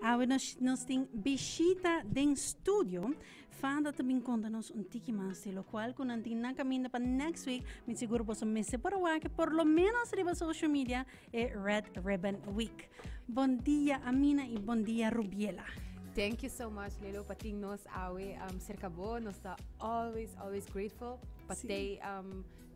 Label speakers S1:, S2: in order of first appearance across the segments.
S1: Awe nos, nos tin bishita den studio. Fada ta bin konta nos un tiki mas di lokual ku nan tin na kaminda pa next week. Mi sigur boso mester por a wak por lo menos riba social media e Red Ribbon Week. Bon dia Amina i bon dia Rubiela. Thank you so
S2: much Lelo pa tin nos awe serka bo. Nos ta always always grateful pa tei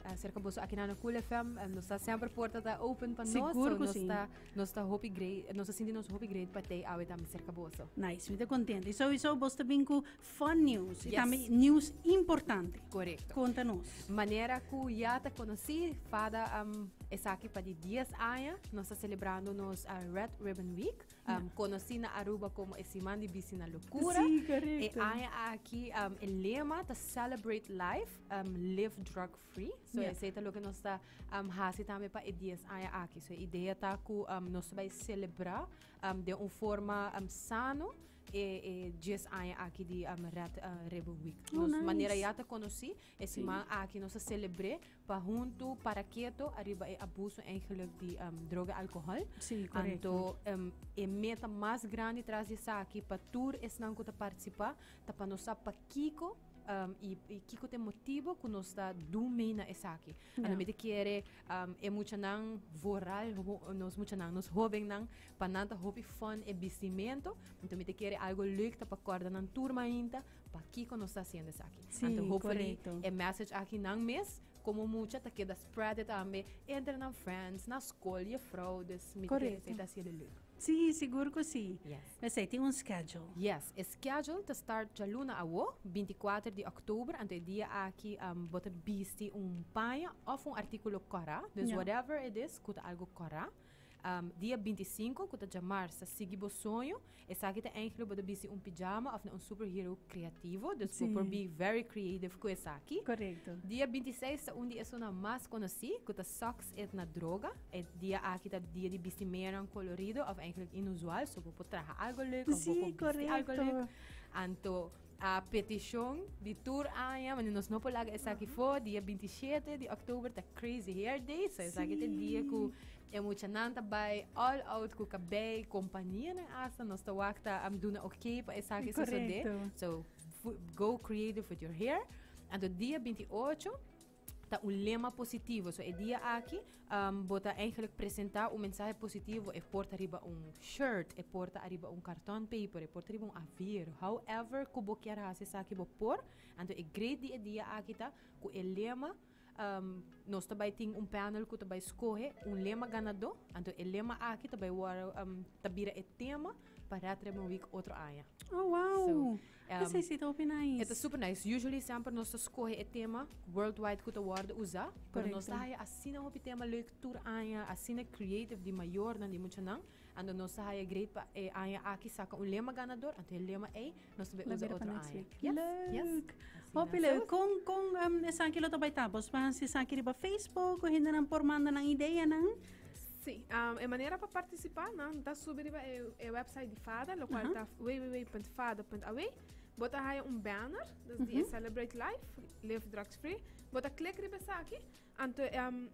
S2: Acerca boso akinan na Cool FM, nos ta semper porta ta open pa nos. Sigur ku nos sí. ta
S1: nos ta hopi great,
S2: nos ta sinti nos hopi great pa tei awe tambe cerca boso. Nice, mi ta contenta. Y
S1: sowieso bos ta bin ku fun news y Yes. tambe news importante. Correcto. Conta
S2: nos. Manera
S1: ku ya
S2: ta conocí, fada um, esaki pa di 10 aña, nos ta celebrando nos uh, Red Ribbon Week. um, conocí na Aruba como e Siman di Bici na Locura. Sí, correcto. E aña
S1: aquí,
S2: um, el lema ta Celebrate Life, um, Live Drug Free. So, yeah. ese lo que nos está um, hace también para e 10 aña aquí. So, idea ta que um, nos va a celebrar um, de una forma um, sano e, e 10 aña aquí de um, Red uh, Rebel Week. Oh, nos nice. manera ya te
S1: conocí,
S2: E siman aki nos a selebr'é pa huntu para keto ariba e abuso eigenlijk di droga i alkohòl. Sí, korekto. Anto
S1: e meta
S2: mas grandi tras di esaki pa tur esnan ku ta partisipá ta pa nos sa pakiko i kiko ta e motibu ku nos ta dun mei na esaki. A lo mester kere e muchanan vooral nos muchanan, nos hóbennan pa nan ta hopi fòn e bistimentu. Anto mester kere algu lèk ta pa kòrda nan tur mainta. Pakiko nos ta hasiendo esaki? Sí, Anto hopefully correcto.
S1: e
S2: message aki
S1: nan
S2: mes como mucha ta keda spread it tambe entre nan friends, na school, juffrouw. Dus mi ta kere Correcto. esei ta hasiendo leuk. Sí, sigur cu
S1: sí. Yes. Esey tin un
S2: schedule.
S1: Yes, e schedule
S2: ta start djaluna awo, 24 di oktober. Anto e dia aki um, bo ta bisti un paña of un artículo cora. Dus Ja. whatever it is cu ta algo cora. Dia binti sinku, ku ta djamars, ta sigui bo soño. Esaki ta enklo bo ta bisti un pijama òf na un superhero kreativo. Dus bo por bi very creative ku esaki. Korekto. Dia binti
S1: seis ta
S2: un di esunnan mas konosí, ku ta Sòks et na Droga. E dia aki ta dia di bistimeanan kolorido òf enklik inusual. So bo por traha algu lèk òf bo por bisti algu lèk. Anto A peticion di tur aña, ma nos no por laga esaki fo, dia binti shete di oktober ta Crazy Hair Day, so esaki ta e dia ku e muchanan ta bai all out ku kabei, kompanianan asta, nos ta wak ta a duna ok pa esaki sosodé, so go creative with your hair. Anto dia binti ocho ta un lema positivo. So e dia aki um, bo ta eigenlijk presenta un mensahe positivo. E porta riba un shirt, e porta arriba un karton paper, e porta riba un avir. However, ku bo kier hasi saki bo por. Anto e great di e dia aki ta ku e lema um, nos ta bai tin un panel ku ta bai skohe un lema ganador. Anto e lema aki ta bai wor, um, ta bira e tema pa Red Ribbon Week otro aña. Oh, wow! So,
S1: Esei si ta hopi
S2: nice. E ta
S1: super nice. Usually
S2: semper nos ta skohe e tema worldwide ku ta wòrdu usa, pero nos ta haya asina hopi tema leuk tur aña, asina creative di mayornan, di muchanan. Anto nos ta haya great pa e aña aki saka un lema ganador, anto e lema ei nos ta bai usa otro aña. Leuk! Hopi leuk.
S1: Kon kon esaki lo ta bai tabosba? Si esaki riba Facebook, ku hendenan por manda nan ideanan? Sí, um,
S3: e manera pa participá, no, ta subi riba e, e website di FADA, lo cual uh -huh. ta www.fada.aw. Bota haya un banner, dus uh -huh. Celebrate Life, Live Drugs Free. Bota klik riba esa aquí, anto um,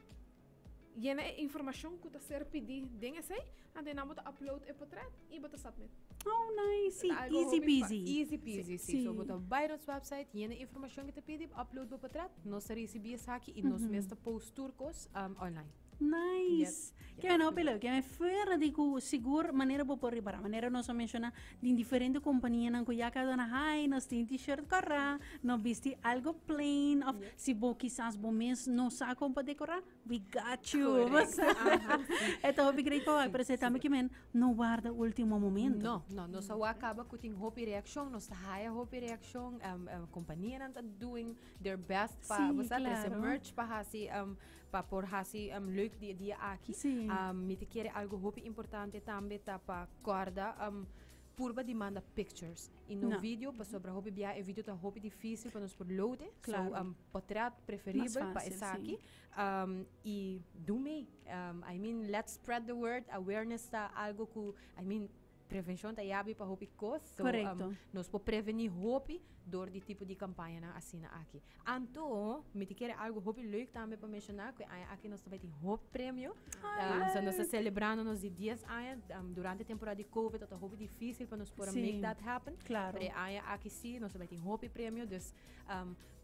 S3: llena e información que ta ser pidi den ese, anto na bota upload e portret y bota submit. Oh, nice.
S1: Sí, easy peasy. Easy peasy, sí. sí.
S2: So, bota Byron's website, llena información que te pidi, upload bo portret, nos recibí esa aquí y uh -huh. nos mesta post turcos um, online. Nice!
S1: Ke me no pelo, ke me fuera di ku sigur manera bo por ripara, manera nos a menshona den diferente kompanianan ku ya kaduna hai nos tin t-shirt kòrá, no bisti algo plain òf si bo kisas bo mes no sa kon pa dekorá we got you e ta hopi great pa wak pero esei tambe kimen no warda ultimo momento. No, no, nos a wak kaba
S2: ku tin hopi reakshon, nos ta haya hopi reakshon, kompanianan ta doing their best pa, bo sa, trese merch pa hasi Pa por hasi um, leuk di e dia aki, sí. um, mi te kere algo hopi importante tambe ta pa korda um, purba di manda pictures y no, no. video pasobra hopi bia e video ta hopi difícil pa nos por loade claro. so um, potret preferibel pa esaki um, y do mee um, I mean let's spread the word awareness ta algo ku I mean Prevenshon ta yabi pa hopi kos, so nos por
S1: preveni
S2: hopi dor di tipo di kampañanan asina aki. Anto, mi ta kere algu hopi leuk tambe pa menshoná, ku e aña aki nos ta bai tin hopi premio, so nos ta selebrando nos di dies aña, durante temporada di kovid tabata hopi difísil pa nos por a make that happen, pero e aña aki
S1: sí,
S2: nos ta bai tin hopi premio, dus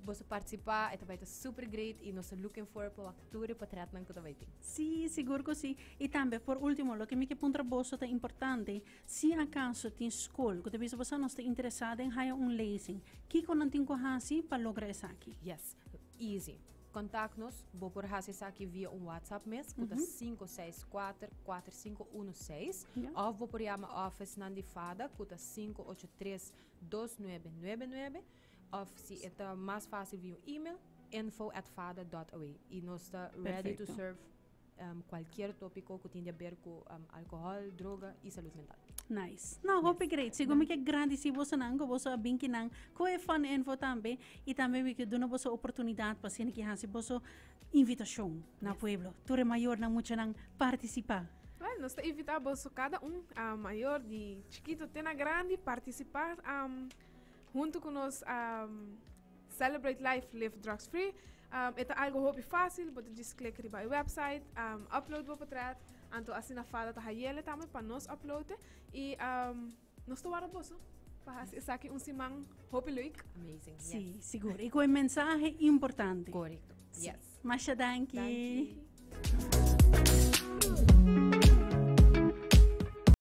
S2: boso partisipá, e ta bai ta super great, i nos ta looking forward pa wak. tur e potretnan ku ta bai tin. Sí, sigur ku sí.
S1: I tambe, por último, loke mi ke puntra boso ta importante, si akaso tin skol ku ta bisa boso nos ta interesá den haya un lezing, kiko nan tin ku hasi pa logra esaki? Yes, easy.
S2: Kontak nos, bo por hasi esaki via un WhatsApp mes ku ta sinku seis kuater kuater sinku unu seis òf bo por yama òfisnan di FADA ku ta sinku ocho tres dos nuebe nuebe nuebe. Of si e ta mas fácil via un email, info at fada dòt awe. I nos ta ready to serve kualkier tópiko ku tin di a ber ku alkohòl, droga i salud mental. Nice. No, hopi
S1: great. Sigur mi ke grandisí bosonan ku boso a bin kinan ku e fun info tambe i tambe mi ke duna boso e oportunidat pa asina ke hasi boso invitashon na pueblo. Tur e mayornan, muchanan partisipá. Wèl, nos ta invitá
S3: boso kada un, mayor di chikito te na grandi, partisipá Huntu ku nos a celebrate life live drugs free. Um, e ta algo hopi fácil, bo ta just klik riba e website, um, upload bo portret, anto asina fada ta hayele tambe pa nos uploade. I um, nos ta wara boso. Paha si esaki un siman hopi leuk. Amazing. Yes. Sí,
S2: seguro. Y
S1: con mensaje importante. Correcto. Sí. Yes. Masha
S2: danki.
S1: Dankie.